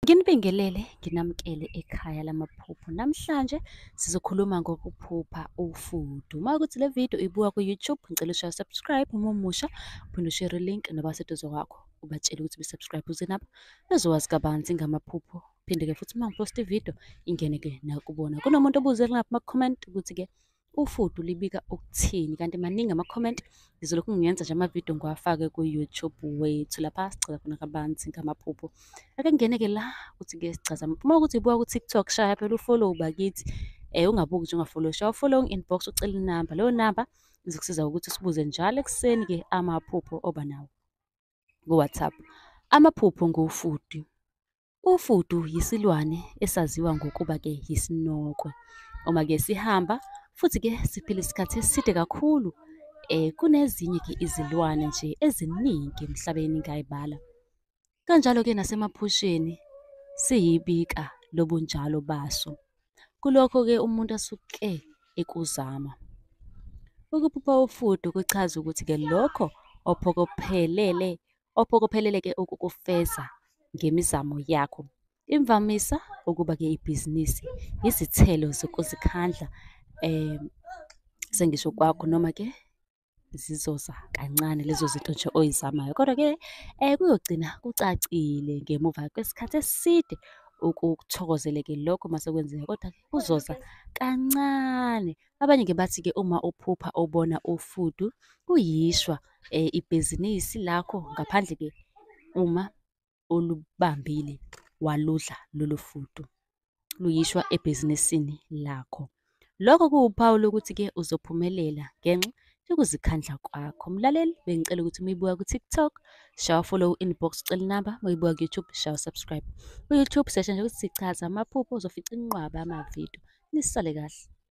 Nginibingelele, nginamukele ekhaya lamaphupho. Namhlanje sizokhuluma ngokuphupha ufudu. Uma ukuthi le video uyibuka ku-YouTube, ngicela ushaya subscribe uma umusha, uphinde ushare link nabaseduze kwakho ubatshele ukuthi be-subscribe ukuze nabo bezowazi kabanzi ngamaphupho. Phinde-ke futhi uma ngiposta ividiyo ingene-ke nakubona. Kunomuntu obuze lapha kuma-comment ukuthi-ke ufudu libika ukuthini kanti maningi ama-comment ngizolokhu ngiyenza nje amavidiyo ngiwafake ku-youtube wethu lapha sigcaza khona kabanzi ngamaphupho ake ngingene-ke la ukuthi ke sigcaza uma ukuthi buka ku-tiktok shaya phela ufollow bakithi um ungabuki nje ungafollow shaya ufollow inbox ucela inamba leyo namba izokusiza ukuthi usibuze njalo ekuseni-ke amaphupho oba nawo ku-whatsapp amaphupho ngofudu Ufudu yisilwane esaziwa ngokuba ke yisinokwe. Uma ke sihamba futhi ke siphila isikhathi eside kakhulu eh kunezinye ke izilwane nje eziningi emhlabeni ngayibala. Kanjalo ke nasemaphusheni siyibika lobunjalo baso. Kulokho ke umuntu asuke ekuzama. Ukuphupha ufudu kuchaza ukuthi ke lokho ophokophelele ophokopheleleke ukukufeza ngemizamo yakho. Imvamisa ukuba ke ibhizinisi yizithelo zokuzikhandla um sengisho kwakho noma ke zizoza kancane lezo zinto nje oyizamayo kodwa ke um kuyogcina kucacile ngemuva kwesikhathi eside ukuthokozeleke lokho mase kwenzeka kodwa kuzoza kancane Abanye ke bathi ke uma uphupha ubona ufudu kuyishwa eh, ibhizinisi lakho ngaphandle ke uma olubambile waludla lolu fudu luyishwa ebhizinisini lakho. Lokho kuwuphawu lokuthi ke uzophumelela ngenxa yokuzikhandla kwakho. Mlaleli bengicela ukuthi uma uyibuka ku-TikTok shawa follow inbox ucela inamba, uma uyibuka ku-YouTube shawa subscribe. Ku-YouTube sesha nje ukuthi sichaza amaphupho uzofica inqwaba amavidiyo. Nisale kahle.